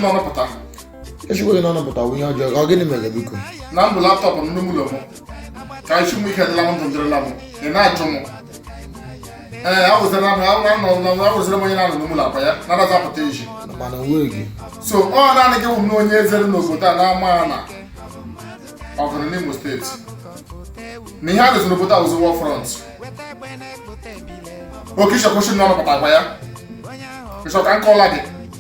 n'ọnọpụta ezigbo gị n'ọnọpụta bụ ihe ọjọọ ọ gịnị mere biko na ndụ laptop m n'ime ụlọ m ka isi m ike dịla m ndụ dịrịla m ị na-achụ m ee awụzịra m awụra nọ na awụzịra m onye na-anọ n'ime ụlọ akwa ya na-adazi apụta iji mana onwe gị so ọ naanị gị wụ m na onye eze dị n'obodo a na-ama ya na ọgụ dị n'imo steeti na ihe a dịzị n'obodo a wụzi war front okay ịchọkwụsị na ọnọpụta akwa ya ị chọ ka m kọọla gị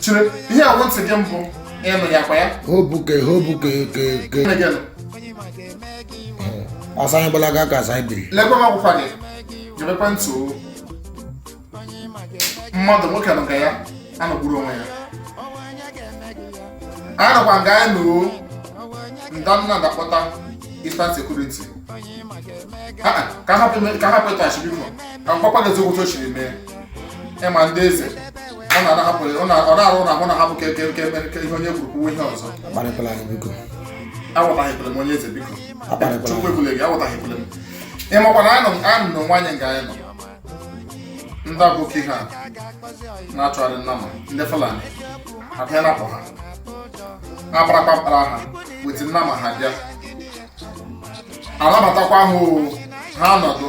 chere ihe a wụ ntị gị mbụ ịnụ ya kwa ya hobu ke hobu ke ke ke Gịnị gị nụ? ọsọ anyị gbalaga ka asa biri lekwa m akwụkwọ gị gebekwa ntị o mmadụ nwoke nọ nga ya anọgburu onwe ya anyị nọkwa nga anyị nọ nda nnamdị akpọta eastern security Ah, ah, ka hapụ ime- ka hapụ ịtụ asị biko ka m kpakwa gị eziokwu otu o siri mee ị ma ndị eze ọ na-ahapụ ọ na- ọ na-arụ na ahụ na hapụ ka eke eke mere ka ihe onye kwuru kwuwe ihe ọzọ akparịkwala anyị biko awụtaghịkwere m onye eze biko Akparịkwala. chukwu ekwule gị awụtaghịkwere m ị makwa na anọ m anọ m n'onwe anyị nga anyị nọ ndị aboki ha na-achịgharị nnama ndị fulani abịa napụ ha akparakpa mkpara ha weti nnama ha bịa anabatakwa ha o ha nọdụ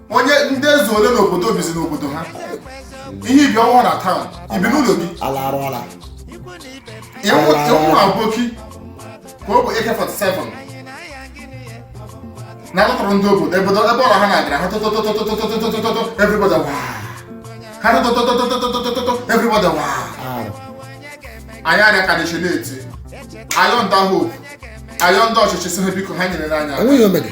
onye ndị eze ole n'obodo bizi n'obodo ha ihe ibi ọnwa na taụn ibi n'ụlọ gị ala arụọla ị hụ aboki ka o bu AK47 na-atụtụrụ ndị obodo ebe ọrụ ha na-adịra ha tụtụtụtụtụtụtụtụtụtụtụ everybody wa ha tụtụtụtụtụtụtụtụtụtụ everybody wa anyị arịa aka n'isi na-eti ayọ nda hope ayọ ndị ọchịchị sị ha biko ha nyere anyị aka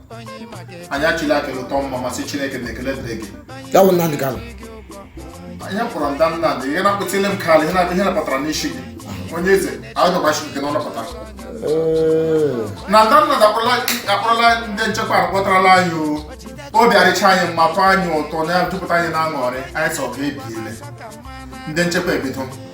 anyị achịlie aka elu tụọ mma mma sị chineke na ekele dịrị gị ya bụ nnamdị kanu anyị kpọrọ nda nnamdị ihe na-akpụtile m kalụ ihe na-abịa ihe napụtara n'isi gị onye eze anyị dọgbachi nke na ọ nọpụta na nda nnamdị akpọrọla ndị nchekwa akpọtarala anyị o obi adịcha anyị mma tọọ anyị ụtọ na-ejupụta anyị na aṅụrị anyị sị ọgụ ebiele ndị nchekwa ebido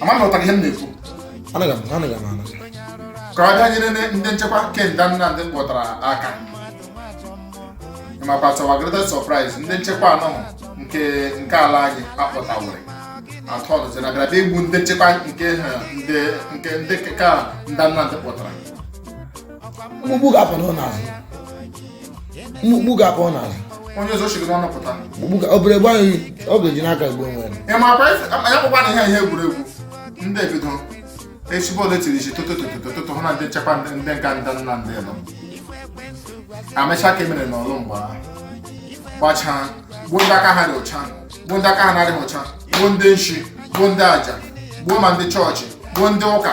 ama m ị nụtara ihe m na-ekwu ka ọ bịa nyere ndị nchekwa nke nda nnamdị kpọtara aka makwa to our greatest surprise ndị nchekwa ahụ nke nke ala anyị akpọtawere atọnụzi na bịara bịa igbu ndị nchekwa nke ndị nke ndị ka nda nnamdị kpọtara mkpukpu ga-apụ unu n'azụ mkpukpu ga-apụ unu n'azụ onye ọzọ chiri n'ọnụ pụta mkpukpu ga obere gwa anyị ọ ga-eji n'aka egbu onwe ya makwa esi- ya bụkwa na ihe ihe egwuregwu ndị ebido echi bọọlụ etiri isi toto toto toto toto hụ na ndị nchekwa ndị ndị nka ndị nnamdị nọ amecha ka e mere na ọlụ mgbe ahụ gbachaa gbuo ndị aka ha dị ụcha gbuo ndị aka ha na-adịghị ụcha gbuo ndị nshi gbuo ndị aja gbuo ma ndị chọọchị gbuo ndị ụka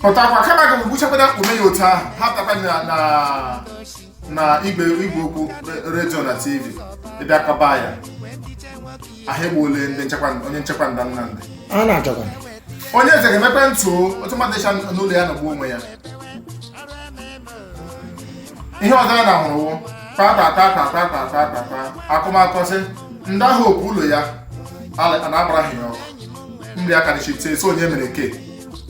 pụtakwa kama gị gbuchakwada ume ya otu ahụ ha pụtakwa na na na igwe igwe okwu re- redio na tv ịbịa kọba ya ha egbuole ndị nchekwa onye nchekwa nda nnamdị a na-achọkwa onye eze ga-emepe ntụ o, otu mmadụ ịcha n'ụlọ ya nọgbu onwe ya ihe ọzọ a na-ahụrụ wụ kpakpakpakpakpakpakpakpa akụmakọ sị ndị ahụ ọkụ ụlọ ya ala- a na-agbara ha ya ọkụ nri aka na chipte so onye mere ke